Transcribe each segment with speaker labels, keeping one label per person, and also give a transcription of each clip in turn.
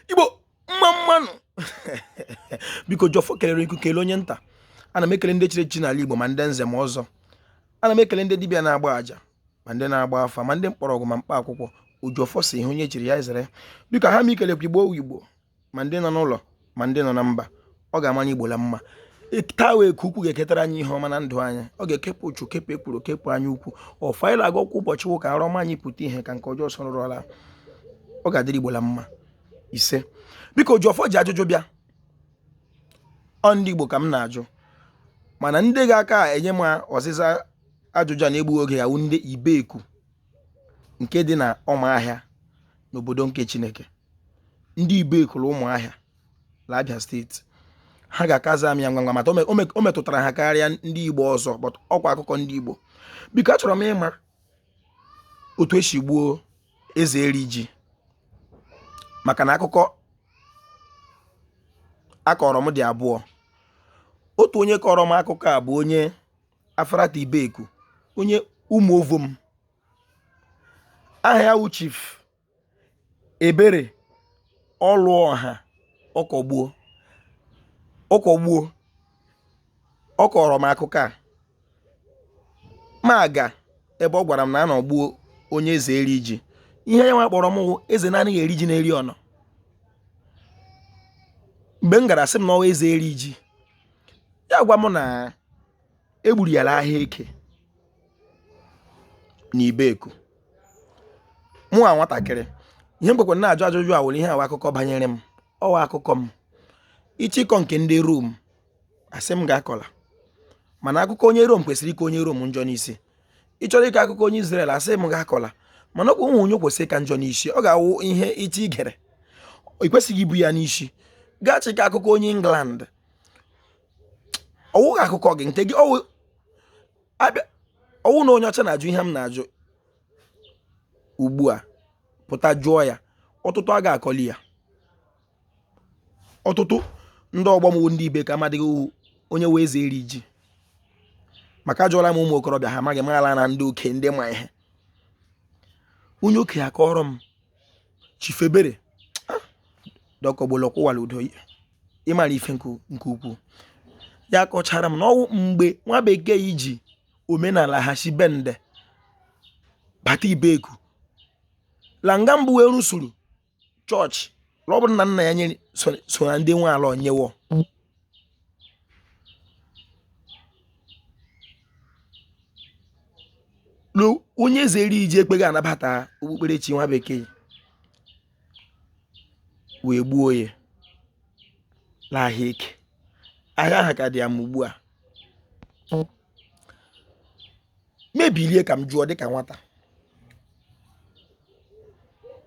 Speaker 1: igbo mma mma nụ biko ojiọfọ kelere iku kele onye nta ana m ekele ndị chiri echichi n'ala igbo ma ndị nze ma ọzọ ana m ekele ndị dibịa na-agba aja ma ndị na-agba afa ma ndị mkpọrọgwụ ma mkpa akwụkwọ ojiọfọ sị ihe onye chiri ya zere biko ha m ikelekwa igbo igbo ma ndị nọ n'ụlọ ma ndị nọ na mba ọ ga-amara igbo la mma taa wụ eke ukwu ga-eketara anyị ihe ọma na ndụ anyị ọ ga-ekepụ uchu kepụ ekworo kepụ anyaukwu ọfọ anyị na-agọkwa ụbọchị wụ ka arụ ọma anyị pụta ihe ka nke ọjọọ sọrọ ọla ọ ga-adịrị igbo la mma ise biko ojiọfọ ji ajụjụ bịa ọ ndị igbo ka m na-ajụ mana ndị ga-aka enye m ọzịza ajụjụ a na-egbughị oge ya wụ ndị ibeku nke dị na ọmahịa n'obodo nke chineke ndị ibeku ụmụahịa la abịa steeti ha ga-aka aza m ya ngwa ngwa maka o metụtara ha karịa ndị igbo ọzọ but ọkwa akụkọ ndị igbo biko achọrọ m ịma otu e si gbuo eze eri ji maka na akụkọ a kọrọ m dị abụọ otu onye kọrọ m akụkọ a bụ onye Afarata Ibeku onye Umuovom aha ya wụ Chief Ebere Ọlụọha Ọkọgbuo Ọkọgbuo ọ kọrọ m akụkọ a mụ aga ebe ọ gwara m na a nọ gbuo onye eze eri ji ihe ya nwa kpọrọ m wụ eze na-anaghị eri ji na-eri ọnọ mgbe m gara sị m na ọ wụ eze eri ji ya gwa m na e gburu ya la ahịa eke na ibeku mụ nwa nwatakịrị ihe m kwekwara na-ajụ ajụjụ a wụ la ihe a wụ akụkọ banyere m ọ wụ akụkọ m ị chọ ịkọ nke ndị rom asị m gị akọla mana akụkọ onye rom kwesịrị ịka onye rom njọ n'isi ị chọrọ ịkọ akụkọ onye Izrel asị m gị akọla mana ọkwa nwe onye kwesịrị ịka njọ n'isi ọ ga-awụ ihe ị chọ igere ị kwesịghị ibu ya n'isi gị achọ ịkọ akụkọ onye England ọ wụghị akụkọ gị nke gị ọ wụ na onye ọcha na-ajụ ihe m na-ajụ ugbu a pụta jụọ ya ọtụtụ a ga-akọli ya ọtụtụ ndị ọgbọ m wụ ndị ibeku amadịghị onye wụ eze eri ji maka ajụọla m ụmụ okorobịa ha amaghị mana ndị okenye ma ihe onye okenye a kọrọ m chief ebere ah, ọkọgbuo kwụwara udo ịmara ife nke ukwuu ya kọchara m na ọ wụ mgbe nwa bekee ji omenala ha si bende bata ibeku la nga mbụ wee rụsuru chọọchị na ọ bụrụ na nna ya nyere so na ndị nwe ala onyewo onye eze eri iji ekpeghị anabata okpukperechi nwa bekee wee gbuo ya n'ahịa eke ahịa ahụ ka dị ya ma ugbu a m ebilie ka m jụọ dịka nwata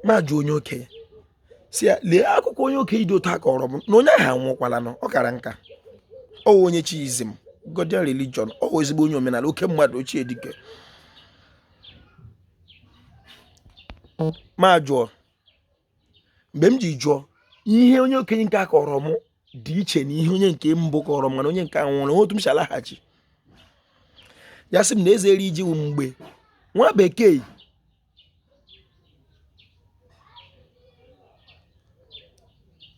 Speaker 1: m ajụọ onye okenye sị ya lee akụkọ onye okenye dị otu a kọrọ m na onye ahụ anwụkwalanụ ọ kara nka ọ wụ onye Chiism Godian religion ọ wụ ezigbo onye omenala oke mmadụ ochie dike m ajụọ mgbe m ji jụọ ihe onye okenye nke a kọrọ m dị iche na ihe onye nke mbụ kọrọ m mana onye nke a nwere otu m si alaghachi ya sị m na eze eri iji wụ mgbe nwa bekee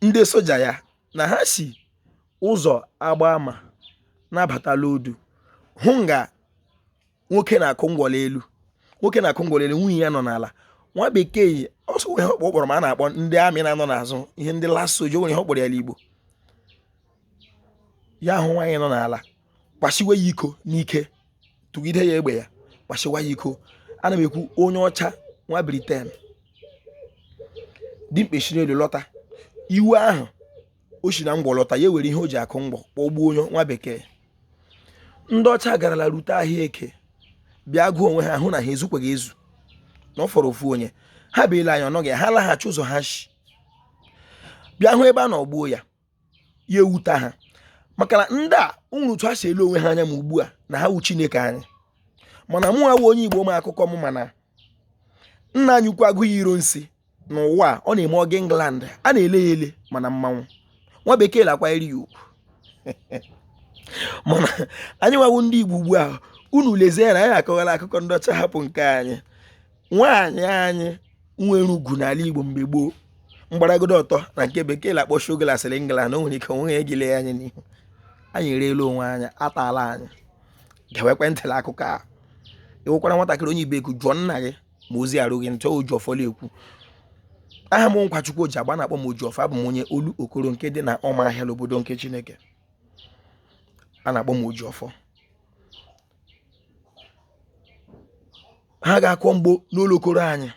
Speaker 1: ndị soja ya na ha si ụzọ agbama na-abatala odu hụ nga nwoke na-akụ ngwọ n'elu nwoke na-akụ ngwọ n'elu nwunye ya nọ n'ala nwa bekee yi ọsọ nwere ihe ọ kpọrọ ma a na-akpọ ndị army na-anọ n'azụ ihe ndị last soja nwere ihe ọ kpọrọ ya n'igbo ya ahụ nwaanyị nọ n'ala kwashiwe ya iko n'ike tụgide ya egbe ya kwashiwa ya iko ana m ekwu onye ọcha nwa Britain dimkpa esi n'elu lọta iwe ahụ o si na ngwọ lọta ya ewere ihe o ji akụ ngwọ kpọgbuo onye nwa bekee ndị ọcha garala rute ahịa eke bịa gụọ onwe ha hụ na ha ezukweghị ezu na ọ fọrọ ofu onye ha bịa lee anya ọ nọghị ha laghachi ụzọ ha shi bịa hụ ebe a nọ gbuo ya ya ewuta ha maka na ndị a nwere otu ha si ele onwe ha anya ma ugbu a na ha wụ chineke anyị mana mụ awụ onye igbo ma akụkọ m ma na nna anyị ukwu Aguiyi Ironsi n'ụwa, ọ na-eme ọ gaa England a na-ele ya ele mana mmanwụ nwa bekee la-akwanyere ya ugwu mana anyị nwa wụ ndị Igbo ugbu a unu lezie ya na anyị akọwala akụkọ ndị ọcha hapụ nke anyị nwa anyị anyị nwere ugwu n'ala Igbo mgbe gboo mgbaragodo ọtọ na nke bekee la-akpọ shogolasịrị England o nwere ike o nweghị egile ya anya n'ihu anyị ereela onwe anyị ataala anyị gewekwe ntị n'akụkọ a ị wụkwara nwatakịrị onye ibeku jụọ nna gị ma ozi erughị ntị oji ọfọ la-ekwu aha m nkwachukwu oji agba a na-akpọ m oji ọfọ abụ m onye olokoro nke dị na ụmụahịa n'obodo nke chineke a na-akpọ m oji ọfọ ha ga-akọ mgbo n'olokoro anyị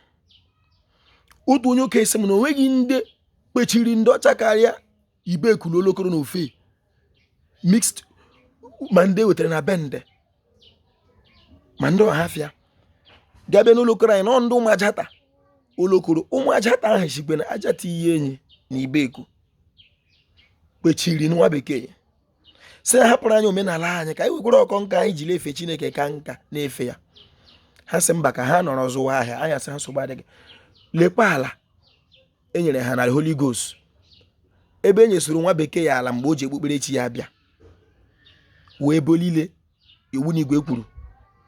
Speaker 1: otu onye okenye sị m na o nweghị ndị kpechiri ndị ọcha karịa Ibeku la olokoro na ofe mixed ma ndị ewetara na bende ma ndị ọhafịa gabe n'olokoro anyị nọ ndị Ụmụajata olokoro Ụmụajata ahụ shikwa na ajata Iyienyi na Ibeku kpechiri nwa bekee sị hapụrụ anyị omenala anyị ka anyị wekwere ọkọ nka anyị jiri efe chineke ka nka na-efe ya ha sị mba ka ha nọrọ zụwa ahịa anyị asị ha nsogbu adịghị lekwa ala e nyere ha na Holy Ghost ebe e nyesịrị nwa bekee ya ala mgbe o ji okpukperechi ya bịa wee ebe niile iwu na igwe kwuru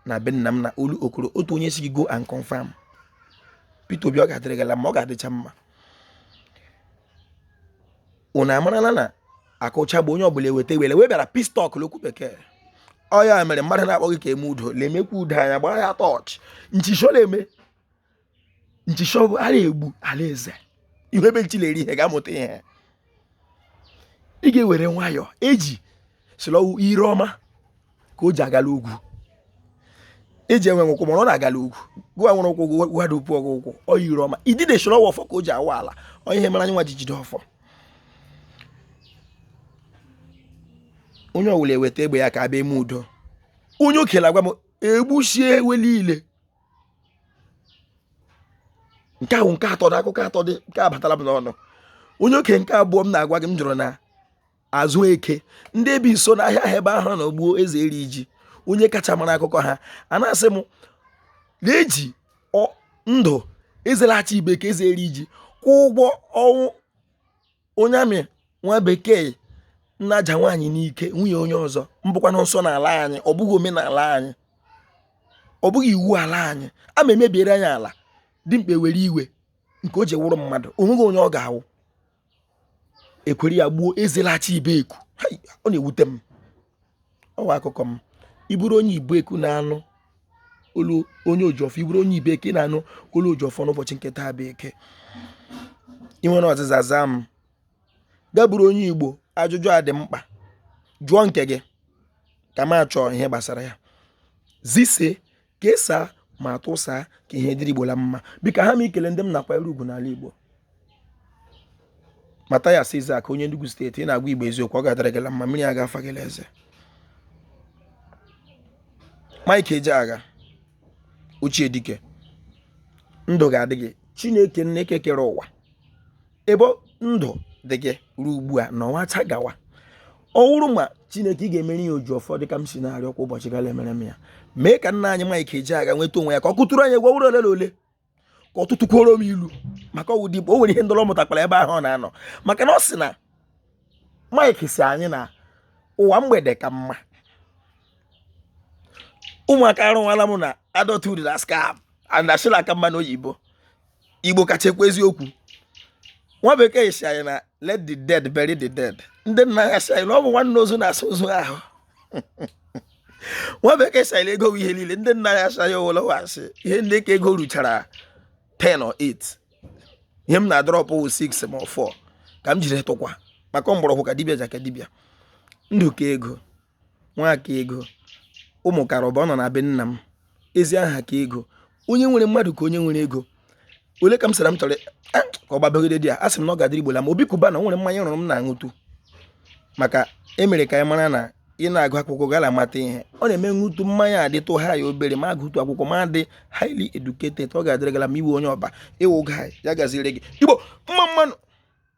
Speaker 1: na be nna m na Olokoro otu onye sị gị go and confirm Peter Obi ọ ga-adịrị gị la mma ọ ga-adịcha mma unu amarala na akụcha bụ onye ọbụla eweta iwere wee bịara peace talk n'okwu bekee ọ ya mere mmadụ na-akpọ gị ka eme udo na-emekwa udo anyị agbara ya tọọchị nchịchọ na-eme nchịchọ bụ a na-egbu alaeze ị hụ ebe nchi na-eri ihe ga-amụta ihe ị ga-ewere nwayọọ eji sị la ọ wụ ire ọma ka o ji aga la ogwu eji enweghị ụkwụ mana ọ na-aga la ogwu gịwa nwere ụkwụ gwada ukwu ọgụ ụkwụ ọ ire ọma idide sị la ọ wụ ọfọ ka o ji awa ala ọ ihe mere anyị nwa ji jide ọfọ onye ọwụla eweta egbe ya ka a bịa eme udo onye okenye agwa m egbuchie ewe niile nke ahụ nke atọ dị akụkọ atọ dị nke abatala m n'ọnụ onye oke nke abụọ m na-agwa gị m jụrụ na azụ eke ndị bi nso n'ahịa ahụ ebe ahụ na ogbuo Ezeriji onye kacha mara akụkọ ha a na-asị m na e ji ndụ ezelachi Ibeku Ezeriji kwụọ ụgwọ ọnwụ onye army nwa bekee nnaja nwaanyị n'ike nwunye onye ọzọ mbụkwanụ nsọ n'ala anyị ọ bụghị omenala anyị ọ bụghị iwu ala anyị a ma emebiere anyị ala dimkpa ewere iwe nke o ji wụrụ mmadụ o nweghị onye ọ ga-awụ ekwere ya gbuo ezelachi Ibeku ọ na-ewute m ọ wụ akụkọ m ị bụrụ onye Ibeku na-anụ olu onye ojiọfọ ị bụrụ onye Ibeku na-anụ olu ojiọfọ n'ụbọchị nke taa bụ eke ị nwere ọzịza zaa m gị abụrụ onye igbo ajụjụ a dị mkpa jụọ nke gị ka m achọọ ihe gbasara ya zise kesaa ma tụsaa ka ihe dịrị igbo la mma biko ha m ikele ndị m na-akwanyere ugwu n'ala igbo Mathias Ezeaku onye Enugu steeti ị na-agwa igbo eziokwu ọ ga-adịrị gị la mma mmiri aga afa gị la eze Mike Ejeagha ochie dike ndụ ga-adị gị Chineke nna nke kere ụwa ebe ndụ dị gị ruo ugbu a na ọnwa acha gawa ọ wụrụ ma chineke ị ga-emere ya oji ọfọ dịka m si na-arịọ kwa ụbọchị gara emere m ya mee ka nna anyị Mike Ejeagha nweta onwe ya ka ọ kụtụrụ anyị egwu ọ wụrụ ole na ole ka ọ tụtụkwuoro m ilu maka ọ wụ dịbụ o nwere ihe ndọrọ mụtakwara ebe ahụ ọ na-anọ maka na ọ sị na Mike sị anyị na ụwa mgbede ka mma ụmụaka arụwala m na adulthood na scam and ashị la-aka mma n'oyibo igbo kacha ekwu eziokwu nwa bekee sị anyị na let the dead bury the dead ndị nna ya sị anyị na ọ bụ nwanne ozu na-asa ozu ahụ nwa bekee sị anyị ego ihe niile ndị nna ya sị anyị owolowasị ihe ndị ka ego ruchara 10 or 8 ihe m na-adọrọpụ 6 ma 4 ka m jiri tụkwa maka mgbọrọgwụ ka dibịa aja ka dibịa ndụ ka ego nwa ka ego ụmụ kara ụba ọ nọ na be nna m ezi aha ka ego onye nwere mmadụ ka onye nwere ego ole ka m sara m chọrọ ka ọ gbabagide di ya a sị m na ọ ga-adịrị igbo la mma Obi Cubana nwere mmanya rụrụ m na-aṅụtụ maka e mere ka anyị mara na ị na-agụ akwụkwọ gara amata ihe ọ na-eme ṅụtụ mmanya adịtụ ha ya obere ma agụtụ akwụkwọ ma dị highly educated ọ ga-adịrị gị la mma iwe onye ọba ị wụ ụga ya gaziri gị igbo mma mma nụ